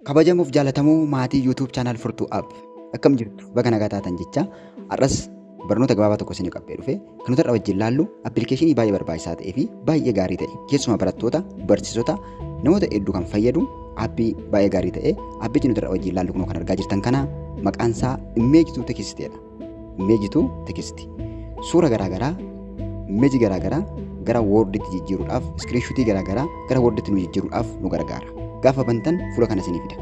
kabajamuuf jaalatamoo maatii YouTube channel furtuu app akkam jirtu baga nagaa taatan jecha har'as barnoota gabaabaa tokko isinii qabbee dhufe kan nuti irra wajjin laallu appilikeeshinii baay'ee barbaachisaa ta'ee fi baay'ee gaarii ta'e keessumaa barattoota barsiisota namoota hedduu kan fayyadu appii baay'ee gaarii ta'e appichi nuti irra wajjin laallu kunoo kan argaa jirtan kana maqaan isaa immeeji tuutekisiteedha. Image to text. Suura garaagaraa image garaagaraa gara woorditti jijjiiruudhaaf iskiriinshuutii garaagaraa gara woorditti nu jijjiiruudhaaf nu gargaara. Gaafa bantan fuula kana isinii fida.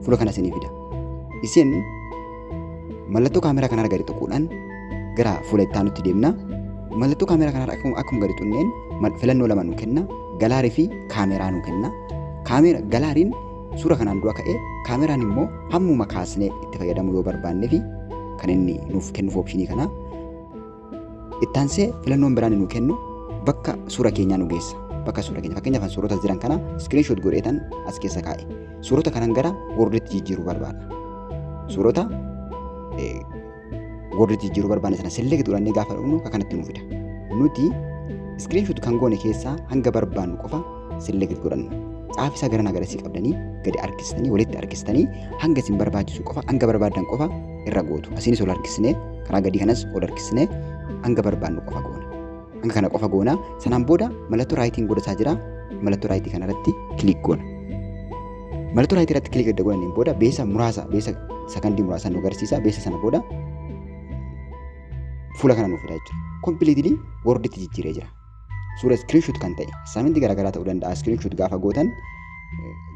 Fuula kana isinii fida. Isin mallattoo kaameraa kanarra gadi tuquudhaan gara fuula itti aanutti deemna. Mallattoo kaameraa kanarra akkuma akkuma gadi tunneen mal- filannoo lama nu kenna. Galaarii fi kaameraa nu kenna. Kaameera galaariin Suura kanaan dura ka'e kaameraan immoo hammuma kaasnee itti fayyadamuu yoo barbaanne fi kan inni nuuf kennuuf opshinii kana ittaansee filannoon biraan nu kennu bakka suura keenyaa nu geessa. Bakka suura keenya fakkeenyaaf suurota jiran kana screenshot godheetan as keessa kaa'e. Suurota kanan gara worditti jijjiiruu barbaada. Suurota warri jijjiiruu barbaanne sana select godhannee gaafa dhufnu akka kanatti nu fida. Nuti screenshot kan goone keessaa hanga barbaannu qofa select godhanna. Caafi isaa gara nagarasii qabdanii gadi harkistanii walitti harkistanii hanga isin barbaachisu qofa hanga barbaadan qofa irra gootu. Asiinis ol harkisnee karaa gadii kanas ol harkisnee hanga barbaannu qofa goona. Hanga kana qofa goona. Sanaan booda mallattoo raayitiin godhataa jira. Mallattoo raayitii kanarratti kiliik goona. Mallattoo raayitii irratti kiliik erga godhaniin booda beesa muraasa beesa sakandii muraasa nu agarsiisa. Beesa sana booda fuula kana nuuf fida jechuudha. Kompiliitilii worditti jijjiiree jira. Suura iskiriinshuut kan ta'e saaminti garaagaraa ta'uu danda'a. Iskiriinshuut gaafa gootan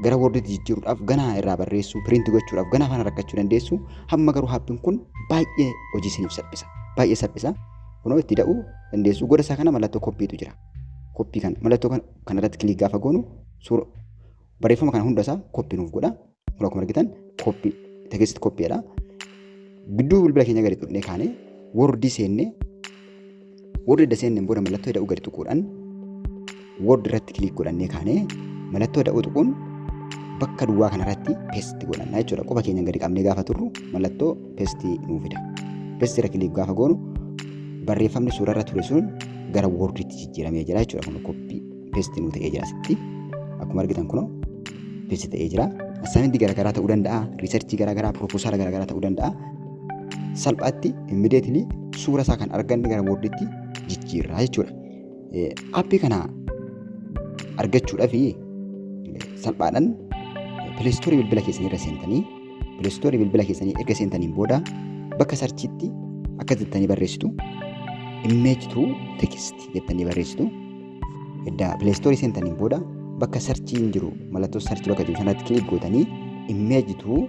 gara worditti jijjiiruudhaaf ganaa irraa barreessuu piriinti gochuudhaaf ganaa faana rakkachuu dandeessu. Hamma garuu haappiin kun baay'ee hojii isiniif salphisa. Baay'ee salphisa. Kunoo itti da'uu dandeessu. Goda isaa kana mallattoo koppiitu jira. Koppii kana mallattoo kana kanarratti kiliik gaafa goonu suura barreeffama kana hunda isaa koppii nuuf godha. Kunoo akkuma argitan koppii tekisti koppiidha. Gidduu bilbila keenya gadi tuqnee kaanee wordii seennee warri edda seenneen booda mallattoo eda'uu gadi tuquudhaan Word irratti kiliik godhannee kaanee mallattoo da'oo tuquun bakka duwwaa kanarratti pesti godhanna jechuudha. Quba keenya gadi qabnee gaafa turru mallattoo pesti nuu fida. Pesti irra kiliik gaafa goonu barreeffamni suurarra ture sun gara worditti jijjiiramee jira jechuudha. Kun koppii pesti nuu ta'ee jira asitti. Akkuma argitan kunoo pesti ta'ee jira. Asaayintii garaagaraa ta'uu danda'a, riisarchii garaagaraa, pirooposaala garaagaraa ta'uu danda'a. Salphaatti immideetilii suura isaa kan arganne gara worditti jijjiirraa jechuudha. Appii kana argachuudhaaf salphaadhaan pileestoorii bilbila keessanii irra seentanii pileestoorii bilbila keessanii erga seentaniin booda bakka sarchiitti akka jettanii barreessitu immeeji tuu tekisti jettanii barreessitu edda pileestoorii seentaniin booda bakka sarchiin jiru mallattoo sarchii bakka jiru sanatti kilik gootanii immeeji tuu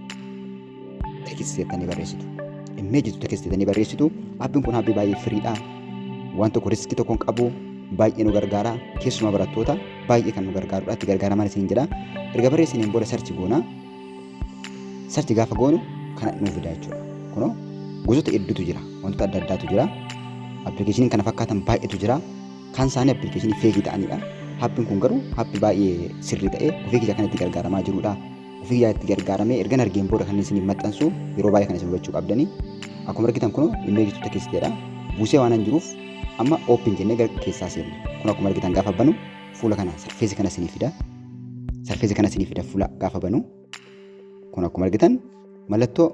text jettanii barreessitu. Immeeji jettu text jettanii barreessitu. Appiin kun appii baay'ee firiidha. Waan tokko riskii tokko hin qabu. Baay'ee nu gargaara. Keessumaa barattoota baay'ee kan nu gargaarudha. Itti gargaaraman isin jedha. Erga barreessaniin booda sarchi goona. Sarchi gaafa goonu kana nuuf fida jechuudha. Kunoo gosoota hedduutu jira. Wantoota adda addaatu jira. Appilikeeshiniin kana fakkaatan baay'eetu jira. Kan isaanii appilikeeshinii feegii ta'anidha. Appiin kun garuu appii baay'ee sirrii ta'e ofii kiyya kan itti gargaaramaa jirudha. ofii yaa itti gargaaramee ergan argeen booda kan isiniif maxxansu yeroo baay'ee kan isin hubachuu qabdanii akkuma argitan kun immeeji tuuta keessa jedha buusee waan hin jiruuf amma oopin jennee gara keessaa seenne kun akkuma argitan gaafa banu fuula kana sarfeesi kana isinii fida sarfeesi kana isinii fida fuula gaafa banu kun akkuma argitan mallattoo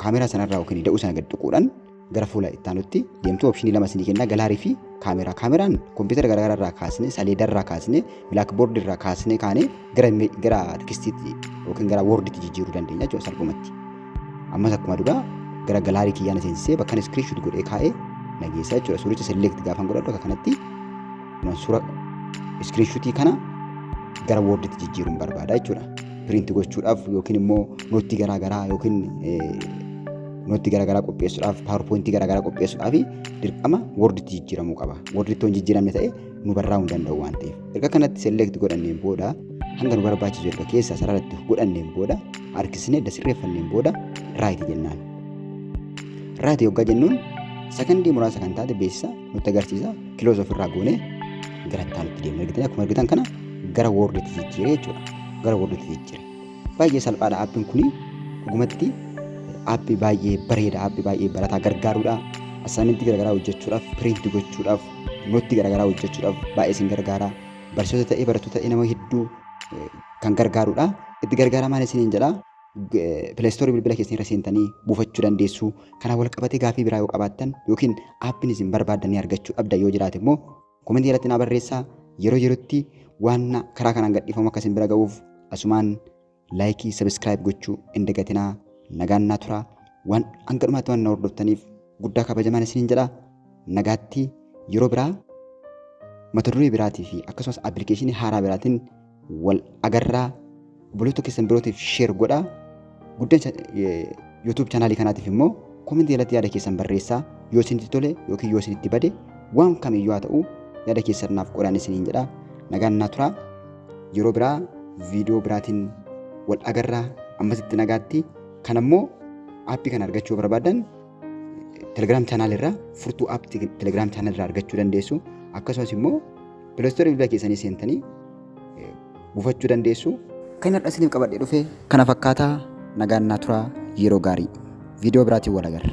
kaameraa sanarraa yookiin da'uu sana gad tuquudhaan gara fuula itti aanutti deemtu opshinii lama isinii kenna galaarii fi kaameraa kaameraan kompiitara garaagaraa irraa kaasne saleeda irraa kaasne bilaakboordi irraa kaasne kaane gara gara tekistiitti yookiin gara woorditti jijjiiruu dandeenya jechuudha salphumatti ammas akkuma duraa gara galaarii kiyyaan seensisee bakka inni iskiriinshuut godhee kaa'ee nageessa jechuudha suuricha select gaafan godhadhu akka kanatti kuman suura iskiriinshuutii kana gara woorditti jijjiiruun barbaada jechuudha piriinti gochuudhaaf yookiin immoo nootii garaagaraa yookiin Nootti garaagaraa qopheessuudhaaf, paawerpoointii garaagaraa qopheessuudhaaf dirqama worditti jijjiiramuu qaba. Worditti yoo hin jijjiiramne ta'e nu barraa'uu hin danda'u waan ta'eef. Erga kanatti select godhanneen booda hanga nu barbaachisu erga keessa sararatti godhanneen booda harkisnee edda sirreeffanneen booda right jennaan. Right yoggaa jennuun sakandii muraasa kan taate beeksisa nutti agarsiisa kiloos ofirraa goonee gara itti aanutti deemna. Argitan akkuma argitan kana gara worditti jijjiire jechuudha. Gara worditti jijjiire. Baay'ee salphaadha aappiin kuni dhugumatti aappii baay'ee bareeda aappii baay'ee barataa gargaaruudha assaayimentii garaagaraa hojjechuudhaaf piriinti gochuudhaaf nootti garaagaraa hojjechuudhaaf baay'ee isin gargaara barsiisota ta'ee barattoota ta'ee nama hedduu eh, kan gargaaruudha itti gargaaramaan isiniin jedha pileestoorii bilbila keessan irra seentanii buufachuu dandeessu kanaan wal qabatee gaafii biraa yoo qabaattan yookiin aappiin isin barbaaddan ni argachuu dhabda yoo jiraate immoo Komentii jalatti naa barreessaa yeroo yerootti waan karaa kanaan gadhiifamu akka isin bira ga'uuf asumaan laayikii sabiskiraayib gochuu hin dagatinaa nagaan naa turaa waan hanga dhumaatti waan na hordoftaniif guddaa kabajamaan isiniin jedha nagaatti yeroo biraa mata duree biraatii fi akkasumas appilikeeshinii haaraa biraatiin wal agarraa obboleettoo keessan birootiif sheer godhaa guddan YouTube chaanaalii kanaatiif immoo komentii jalatti yaada keessan barreessaa yoo isinitti tole yookiin yoo isinitti bade waan kamiyyuu haa ta'u yaada keessan naaf qodaan isiniin jedha nagaan naa turaa yeroo biraa viidiyoo biraatiin wal agarraa ammasitti nagaatti kan ammoo aappii kana argachuu barbaadan Telegram channel irraa furtuu app Telegram channel irraa argachuu dandeessu. Akkasumas immoo Play Store bilbila keessanii seentanii buufachuu dandeessu. Kan har'a isiniif qabadhee dhufe kana fakkaata nagaan naa turaa yeroo gaarii. Viidiyoo biraatiin wal agarra.